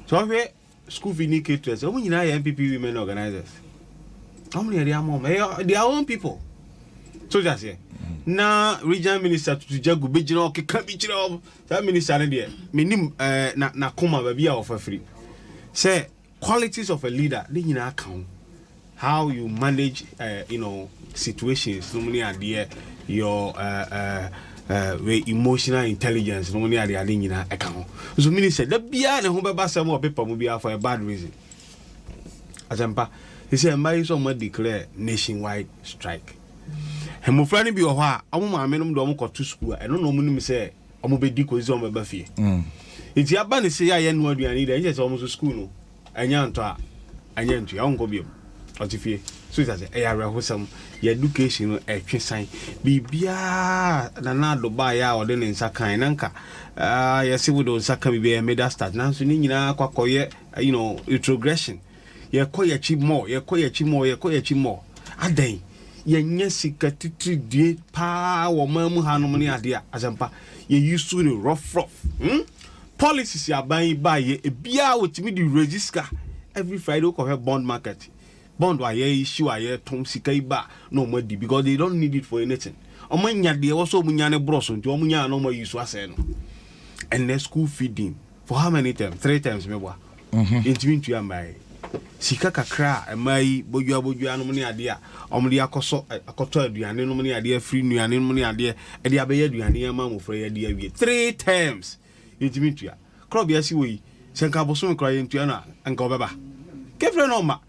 Sɛ ɔhwɛ school fee ni caterers, wɔn nyinaa yɛ NPP women organizers. Wɔn na yɛde ama wɔn. Ɛyɛ their own people. So ti aseɛ. Na regional minister tutu jago bɛgyina hɔ keka bi kyerɛ wɔn. Saa minister no deɛ, menim ɛɛ na n'akoma baabi a ɔfa firi. Sɛ qualities of a leader ne nyinaa ka ho. How you manage you know situations nom ne adeɛ your uh, uh, uh, wei emotional intelligence nom ne adeade nyinaa ɛka ho nso mini sɛ da biara ne ho bɛba sɛm wɔ pepa mu biara for a bad reason asɛmpa te sɛ mma yi sɛ ɔma declare nationwide strike mmofra no bi wɔ hɔ a ɔmo maame nom de ɔmo kɔto sukuu a ɛno na ɔmo nim sɛ ɔmo bɛdi kɔsi sɛ ɔmo bɛba fie mm. nti aba ne sɛ yɛ ayɛ no aduane dɛ nkyɛ sɛ ɔmo so sukuu no Anya ntɔ a, anya ntua a, ɔnkɔ biom. Ɔte fie. So ti ase, ɛyɛ awerɛhosɛm. Yɛ education no, ɛtwe san. Biribiara Nana Addo baeɛ a ɔde ne nsa kan, na nka ah, yɛse wode wo nsa ka biribi ɛyɛ middle start, nanso ne nyinaa akɔ akɔyɛ, eh, you know, retrogression. Yɛkɔ yɛakyi more, yɛkɔ yɛakyi more, yɛkɔ yɛakyi more. Adɛn? Yɛnyɛ sika titiri die paa wɔ ɔman mu hanom ne adeɛ a, asɛmpa, yɛyi so no rough rough. Hmm? Policies aban yi bae yɛ ebiaa wotumi de raise sika every Friday wo kɔ hwɛ bond market bond a yɛ issue a yɛ tɔn sika yi ba na ɔmo adi because they don't need it for anything ɔmo anya deɛ ɛwɔ sɛ ɔmo nya no boro so nti ɔmo nya a na ɔmo ayi so asɛe no ɛnɛ school feeding for how many terms three terms meboa. mhm. ntumi ntua mbae sika kakra a mmaa yi bodua bodua nom ne adeɛ a wɔde akɔsɔ akɔtɔ aduane nom ne adeɛ afiri nnuane nom ne adeɛ ɛde abɛyɛ aduane ama mmɔfra yi adi awie three terms yɛntumi ntua korɔ bia si wɔ yi sɛ nka abosom koraa yɛntua no a nka ɔbɛba kefrɛ no ɔma